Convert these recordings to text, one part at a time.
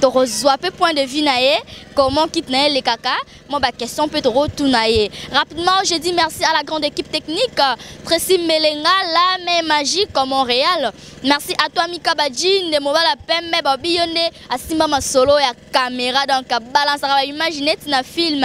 tokozwa pe point de vue na ye comment kit na ye elekaka mwa baquestion mpe tokotuna ye rapidement je dis merci à la grande équipe technique tracy melenga lame magique montréal merci à toi mika badji nde mobala pembe babi yo nde asimba masolo ya caméra donc balansaka baimage neti na film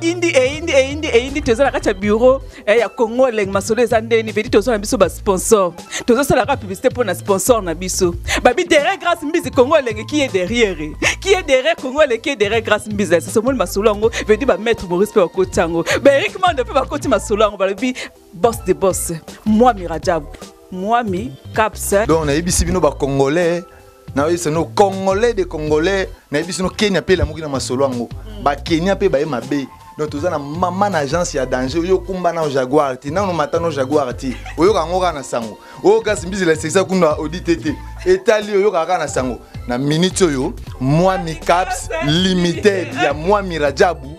indi eyindi eh, eyindi eh, eyindi eh, toza na kati ya bureau ya congo elenge masolo eza ndeni vedi toza na biso basponsor tozosalaka publicité mpo na sponsor na biso babi derrière grâce mbizi congo elenge qui est derrière qui est derrière congo elenge qui est derrière grâce mbizi esasomoli masolo yango vedi bamaître maurice mpe bakoti yango baerik mando mpe bakoti masolo yango balobi boss de boss mwami rajab mwami caps donc nayebisi bino bacongolais nayebisi no congolais de congolais nayebisi no kenya mpe elamuki na masolo yango mm. bakenya mpe baye mabe donc toza na mama na agence ya danger oyo okumba nao jaguar te nano mata no jaguar te oyoka yango kaka na sango oyo kasi mbizela esekisa kuna audite te etali oyokaka kaka na sango na minute oyo mwami caps limited ya mwami rajabu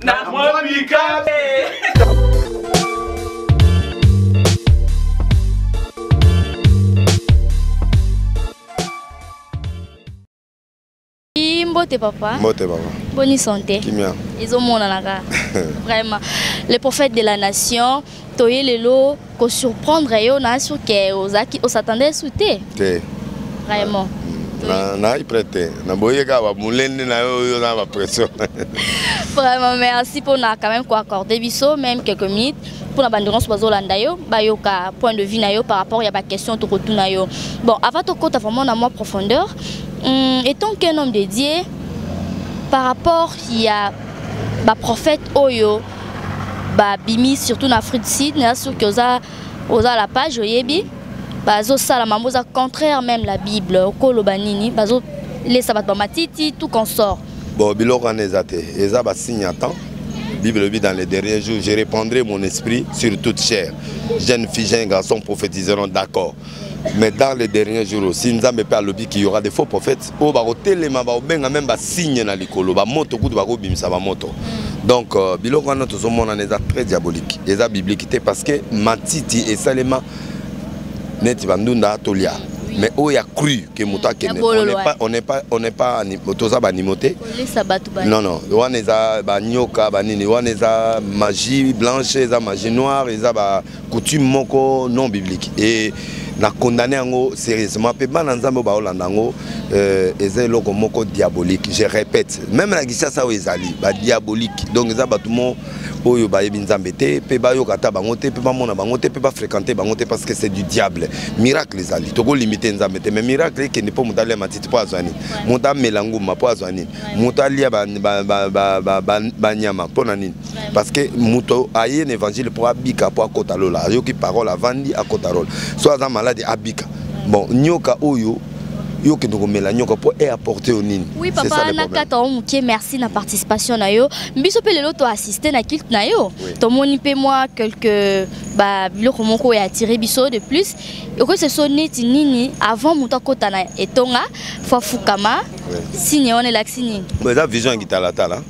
na mwa bikabe mbote papa mbote papa boni sante kimia ezomonana kaka vraiment le prophète de la nation toye lelo ko surprendre yo na sur que ozaki o s'attendait sous te te vraiment na na prête na boye ka ba mulende na yo yo na ba pression vraiment merci pour na quand même ko accorder biso même quelques minutes pour na bande nyonso bazolanda yo bayoka point de vue na yo par rapport ya baquestion tokotuna yo bon avant tokota vraiment na mwa profondeur hum, étant qu'un homme de dieu par rapport ya baprophète oyo ba bimi surtout na Afrique du Sud na sûr que oza oza la page oyebi bazo sala mambo za contraire même la Bible okolo banini bazo lesa bat ba matiti tout consort bon biloko wana eza te eza ba signe à temps Bible le dit dans les derniers jours, je répandrai mon esprit sur toute chair. Jeune fille, jeune garçon prophétiseront d'accord. mais dans les derniers jours aussi nzambe mpe alobi ki yora de faux prophète oyo bakotelema bakobenga meme basigne na likolo bamoto kutu bakobimisa bamoto mm. donc euh, biloko wana tozomonana eza très diabolique eza biblique te parce que matiti esalema neti bandunda tolia mais oyo ya cru ke moto akende on n'est pas toza banimo te non non wana eza banyoka banini wana eza magie blanche eza magie noire eza ba coutume moko non biblique et na condamné yango sérieusement mpe bana nzambe oyo baolanda yango euh, eza eloko moko diabolique je répète même na kisasa oyo ezali badiabolique donc eza bato mo oyo bayebi nzambe te mpe bayoka ata bango te mpe bamona bango te mpe bafréquente bango te parce que c'est du diable miracle ezali tokolimite nzambe te mais miracle ekende mpo moto alia matiti mpo azwa nini moto amela nguma mpo azwa nini moto alia banyama mpo na nini parce que moto aye na évangile mpo abika mpo akota lola ayoki parole avandi akota lola so aza malade abika bon nyoka oyo yo kende komela nyoka mpo e apporte yo nini oui papa nakata yo moke merci na participation na yo biso mpe lelo toassiste na kilte na yo tomoni mpe mwa quelque babiloko moko oyo atire biso de plus okoyisa so neti nini avant moto akota na etonga fo afukama signe wana elakisi nini eza vision ya kitalatala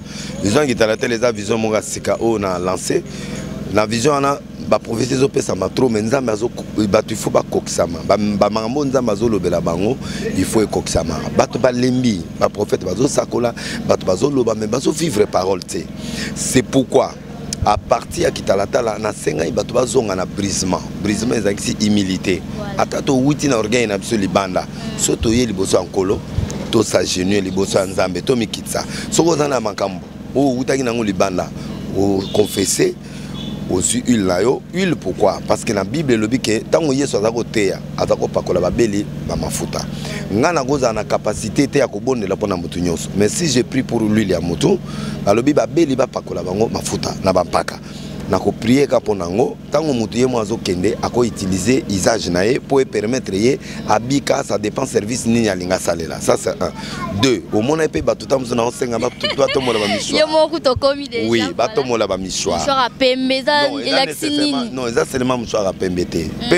vision ya kitalatele eza vision moko ya sika oyo na lance na vision wana baprophesie ezopesama trop mai nzambe bato ifo bakokisama bamakambo oyo nzambe azolobela bango ifo ekokisama bato balembi baprofete bazosakola bato bazoloba mai bazovivre parole te c'est pourquoi à partir ya kitalatala nasengaki bato bazonga na brisement brisement ezalakisi humilité ata towuti na orgueil na biso libanda so toye liboso ya nkolo tosagenue liboso ya nzambe tomikitisa soki oza na makambo oyo owutaki nango libanda oconfese ozwi huile na yo huile pourquoi parce que na bible elobi ke ntango yesu aza koteya aza kopakola babeli bamafuta ngai nakozala na kapasité te ya kobondela mpo na motu nyonso mais si je prie pour l'huile ya motu balobi babeli bapakola bango mafuta na bampaka na koprie ka mpo na yango ntango moto ye moko azokende akoutilize usage na ye mpo epermettre ye abika sa dépend service nini alingi asalela ça c'est un deux omona ye mpe bato ta mosusu nango senga batombola bamisoirwi batombola bamisoirnon eza selema mosoir ya pembe te hmm,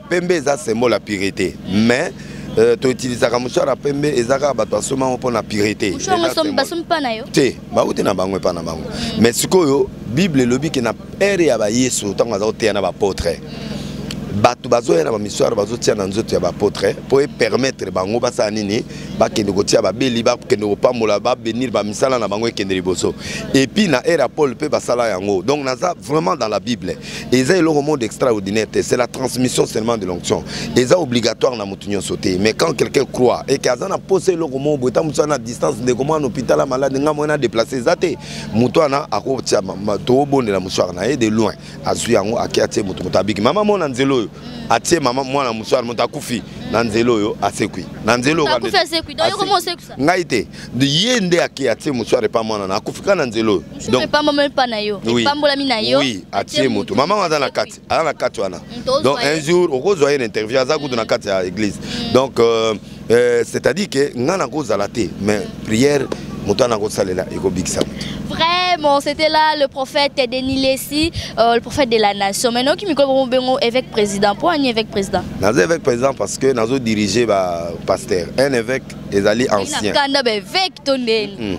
pembe eza symbole ya purité mais Euh, toutilisaka mushwara pembe eza kaka bato basombi yango mpo na purete te bauti na bango epai na bango mm. mais sikoyo bible elobi ke na ere ya bayesu ntango aza koteya na bapotre mm. bato bazoya na bamisware bazotia na nzoto ya bapotre mpo epermettre bango basala nini bakende kotia babeli bakende kopambola babenir bamisala na bango ekende liboso epuis na ere ya paul mpe basala yango donc naza vraiment dans la bible eza eloko moko d'extraordinaire te c'est la transmission seulement de l'onction eza obligatoire na motu nyonso te mais quand quelqu'un croit eke aza na mposa eloko moko boye ta motu aza na distance ndeko mwana hôpital ya malade ngai moye na déplace eza te motu wana akotia tobondela mosuare na ye de loin azwi yango ake atie motu moto abiki mama mona nzela oyo atie mama mwana mosuare moto akufi na nzela oyo asekwi na nzela oyo ngai te ye nde ake atie moto arepa mwana na akufika na nzela oyo epambolami na yo oui atie moto mama aza na kati aza na kati wana donc un jour okozwa ye na interview aza kutu na kati ya église mm. donc euh, euh, c'est à dire ke ngai nakozala te mais prière moto wana akosalela ekobikisa moto Vraiment, c'était là le prophète Denis Lessi, euh, le prophète de la nation. Maintenant, qui me bengo évêque président. Pourquoi un évêque président Nazo évêque président parce que nazo dirigé par pasteur. Un évêque ezali ancien kanda ba évêque to ndeni hmm.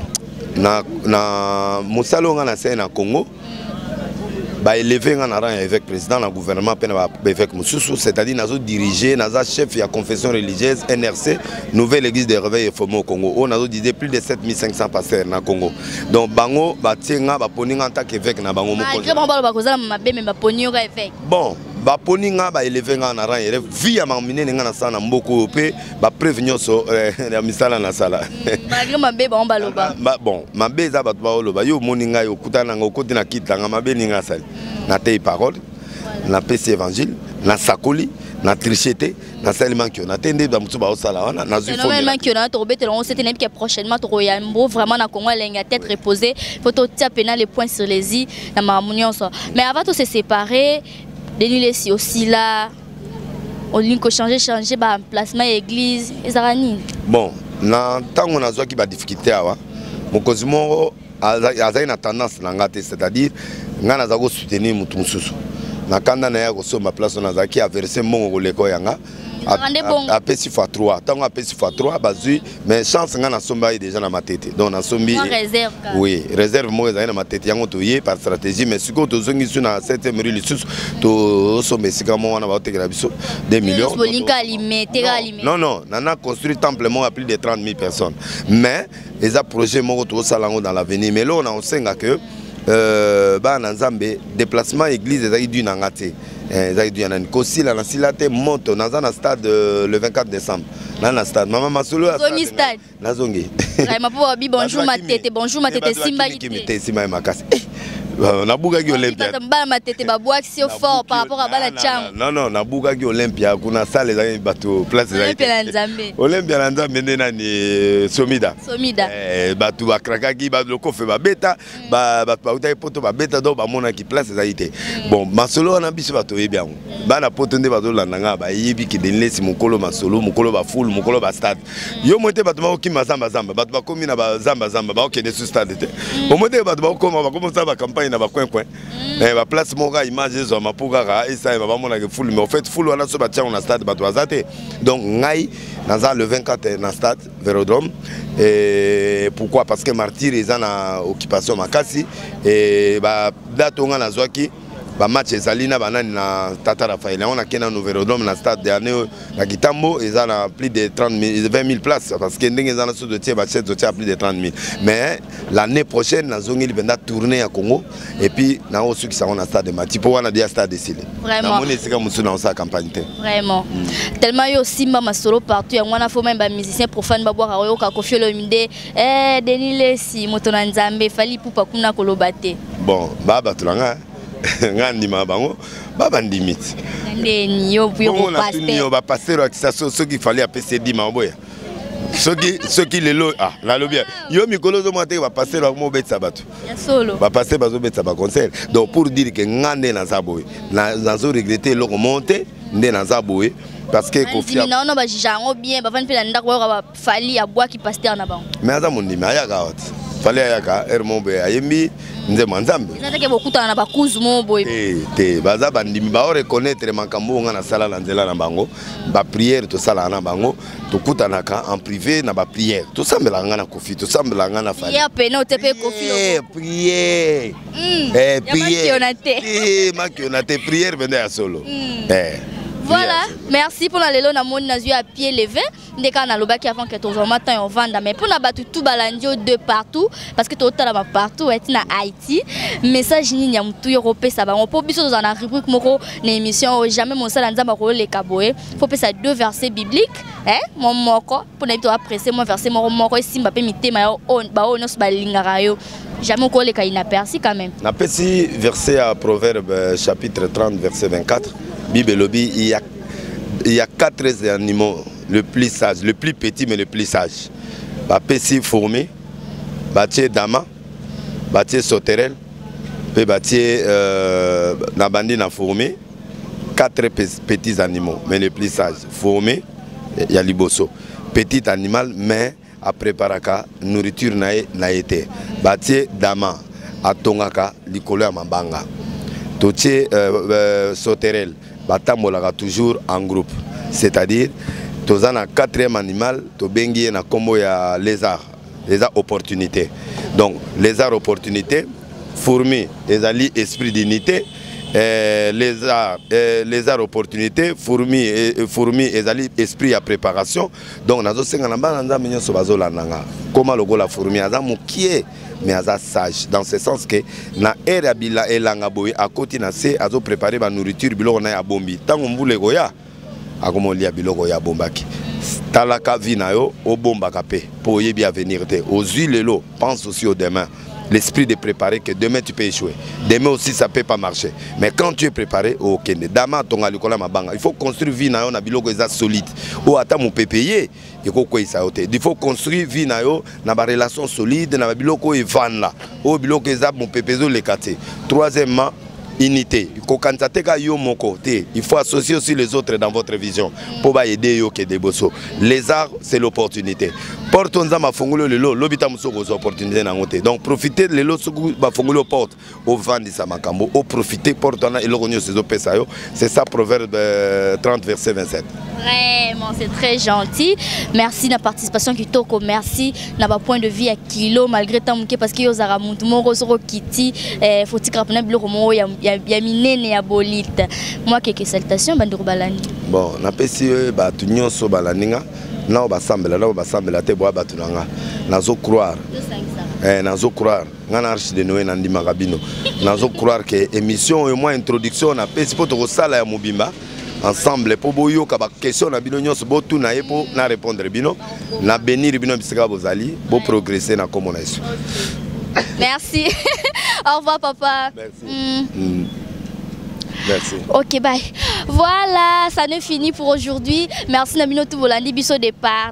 na na musala nga na sai na Congo hmm. ba élevé nga na rang ya évêque président na gouvernement pe na ba évêque mususu c'est-à-dire nazo diriger naza chef ya confession religieuse NRC nouvelle église de réveil formée au Congo on nazo diriger plus de 7500 pasteurs na Congo donc bango ba tienga ba poni nga en tant qu'évêque na bango moko malgré bango ba kozala mabe mais ba poni nga évêque bon baponi nga baeleve nga na rang eleve vi ya makambo minene nga nasala na mboka oyo mpe bapreuve nyonso eh, ya misala nasala hmm, mabe bango baloba bon mabe eza bato baoloba yo omoni ngai okutana nanga okoti na kiti nanga mabe ninga asali hmm. nateyi parole napesi évangile nasakoli na triche te nasali mankiona te nde bamosusu baosala wana nazwimankiona tokobetela yango sete nayebi ke prochainement tokoya mbo vraiment na congo elengi ya tete repose mpo totia mpena le point sur les i na makambo nyonso mais avant to se séparer denis lesi osila olingi kochange change baemplacement ya église ezalaka nini bon na ntango nazwaki badifficulté awa mokonzi moko azali na tendance na nga te c'est-à-dire ngai naza kosoutenir motu mosusu na kanda na ye akosomba place wana azalaki averse mbongo koleka oyo yanga apesi fa 3 ntango apesi fa 3 bazwi mais chance ngai nasomba ye déjà na matete donc nasombi oui réserve moko ezali na matete yango toye par stratégie mais sikoyo tozongi biso na 7 rue lisusu tosomba esika moko wana baotekela biso 2 millions non non nana construit temple moko ya plus de 30 000 personnes mais eza projet moko tokosala yango dans l'avenir mais eloko na kosenga ke euh, bana na nzambe déplacement église ezalaki du na nga te eh, ezalaki du ya nani kosila na sila te moto naza na stade euh, le 24 décembre na na stade mama masolo nazongi stade nazongi mapobi bonjour matete bonjour matete esimbaki te esimbaki makasi eh, Euh, nabukaki olympiabana matete babwakisi yo fort par rapport a bana cango non non nabukaki olympia kuna sale ezalaki bato place ezalaki olympia na nzambe nde nani euh, somida somida eh, bato bakrakaki lokofe babeta mm. bato bautaki poto babeta donc bamonaki place ezalaki te mm. bon masolo wana biso bato oyebi yango mm. bana poto nde bazolanda ngai bayebi kende nlesi mokolo masolo mokolo bafulu mokolo bastade yo moko te bato bakokima zambazamba bato bakomi na bazambazamba bakokende su stade te mm. omoi te bato bakokoma bakomosala bacampagne na bacoincoin mm. eh, baplace moko kaka image ezwama mpo kaka esalema bamonaka fulu mais ofait fulu wana so batiango na stade bato baza te donc ngai naza le 24 na stade vérodrome eh, pourquoi parce que martyr eza na occupation makasi eh, badate onga nazwaki bamatch ezali na banani na tata rafael yango nakei na nouverodome na stade dernier oyo na kitambo eza na plus de 20000 place parce que ndenge eza na so totie bachete totie ya plus de 30000 mais l'année prochaine nazongeli mpenza tourne ya congo epuis nakosukisa yango na stade mati mpo wana deya stade esili namoni esika mosusu nakosala campagne te vraiment mm. tellement yo osimba masolo partout yango wana fo meme bamusicien profane babwaka oyoka kofiolomide Eh, Denis Lesi, moto na Nzambe, fali pupa kuna koloba te. Bon, ba bato na nga, nga ndima bango, ba bandimi ti. Ndeni yo yo ko pasteur. Yo ba pasteur ya kisa soki fali apese dima oboya. soki soki lelo ah nalobi yo mikolo ozomona te bapasteur bango mobetisa bato bapasteur bazobetisa baconcert donc pour dire ke nga nde naza boye nazo regrete eloko moko te nde naza boye parce que kofi na ono ba jija yango bien ba vandi pe na ndako ba Fally abwaki pasteur na bango. Mais aza mondimi ayaka wati. Fally ayaka heure moko boye ayembi nzembo nzambe. Eza teke bokutana na bakuzu moko boye. Te te baza bandimi ba reconnaître makambo nga nasala na nzela na bango. Ba prière tosala na bango tokutanaka en privé na ba prière. Tosambela nga na Koffi, tosambela nga na Fally. Prière pena otepe Koffi. Eh prière. Hmm. Eh prière. Eh makiona te prière benda ya solo. Hmm. Eh. Voilà, merci pour la lelo na moni na à pied levé. nde kaka nalobaki avant que tozwa mwa temps ya ovanda mais mpo na bato tout balandi yo de partout parce que totalama partout eti na haïti message nini ya motu yo kopesa bango mpo biso tozala na rubrique moko na émission oyo jamais mosala nzambe akoleka boye mpo pesa deux versets bibliques eh, mwa moko mpo na yebi toapresse mwa verset moko moko esimba mpe mitema ya baoyo nyonso balingaka yo jamais okoleka inaperci quand même napesi verset ya proverbe euh, chapitre 30 verset 24 bible elobi il y a il y a quatre animaux le plus sage le plus petit mais le plus sage bapesi fourmi batie dama batie sauterelle mpe batie euh, na bandi na fourmi quatre petits animaux mais le plus sage fourmi ya liboso petit animal mais apreparaka nourriture na ye na ye te batie dama atongaka likolo ya mabanga totie euh, euh, sauterelle batambolaka toujours en groupe c'est-à-dire toza na quatrième animal tobengi ye na nkombo ya lézard eza opportunité donc lézard opportunité fourmi ezali esprit d'unité eh, lézard, eh, lézard opportunité fourmi, eh, fourmi ezali esprit ya préparation donc nazosenga na bana nzambe nyonso bazolanda nga koma lokola fourmi aza mokie mais aza sage dans ce sens que na aire ya bila elanga boye akoti na se azoprépare banourriture biloko na ye abombi ntango mbula ekoya akomolia biloko oyo abombaki talaka vi na yo obombaka mpe mpo oyebi avenir te ozwi lelo Pense aussi au demain. L'esprit de préparer que demain tu peux échouer. Demain aussi ça peut pas marcher. Mais quand tu es préparé, oh, ok. Dama tonga likola mabanga. Il faut construire vie nayo na biloko eza solide. Ou ata mu pepeye eko ko isa yote. Il faut construire vie nayo na ba relation solide na ba biloko evan là. Ou biloko eza mu pepezo le quartier. Troisièmement unité kokanisa te ka yo moko te il faut associer aussi les autres dans votre vision mpo baede yo okende liboso les arts c'est l'opportunité porte oyo nzambe afongoli oyo lelo lobi ntango mosusu okozwa opportunité na yango te donc profite lelo soki bafongoli yo porte ovandisa makambo oprofite porte wana eloko nyonso ezopesa yo C'est ça, Proverbe 30, euh, verset 27. Vraiment, c'est très gentil. Merci de la participation qui toko. Merci na ba point de vue à kilo malgré tant que parce que yo zara muntu moko soko kiti eh, faut tikra pena biloko mo ya ya minene ya bolite. Moi quelques salutations bandeko balani. Bon, na pesi euh, ba tu nyonso balaninga nao basambela nao basambela te boa batu nanga. Nazo croire. Eh, nazo croire. ngai na arche de noe nandimaka bino nazo croire ke émission oyo mwa introduction napesi mpo tokosala ya mobimba ensemble mpo boyoka baquestion na bino nyonso botuna ye mpo na répondre bino na benir bino bisika bozali boprogresse na nkombo na yesu merci au revoir papa merci. Mm. Mm. Merci. Ok, bye. Voilà, ça ne finit pour aujourd'hui. Merci Namino Toubolandi Bisso Départ.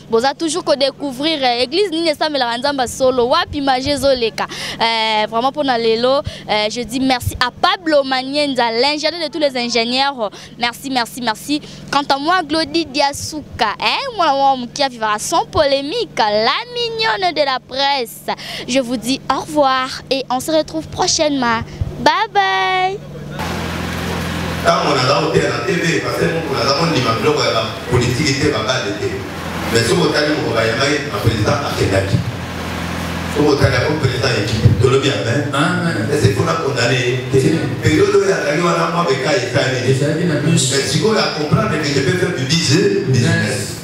boza toujours ko découvrir eh, église nini esambelaka nzambe solo wapi magie ezoleka eh, vraiment mpona lelo eh, je dis merci à pablo manienza l'ingénieur de tous les ingénieurs merci merci merci quant à moi glodi diasuka eh, mwana mwa moke avivaka sans polémique la mignonne de la presse Podcast. Je vous dis au revoir et on se retrouve prochainement. Bye bye. ntango naza koteya na tv parce moko naza kondima biloko ya bapolitiki te babale te mais soki otali moko bayambaki na président akendaki soki otali yango président ekipe tolobi amen ese mpona kondane te periode oyo azali wana mwa bekai esaleli mais sikoyo acomprendre que je peux faire du business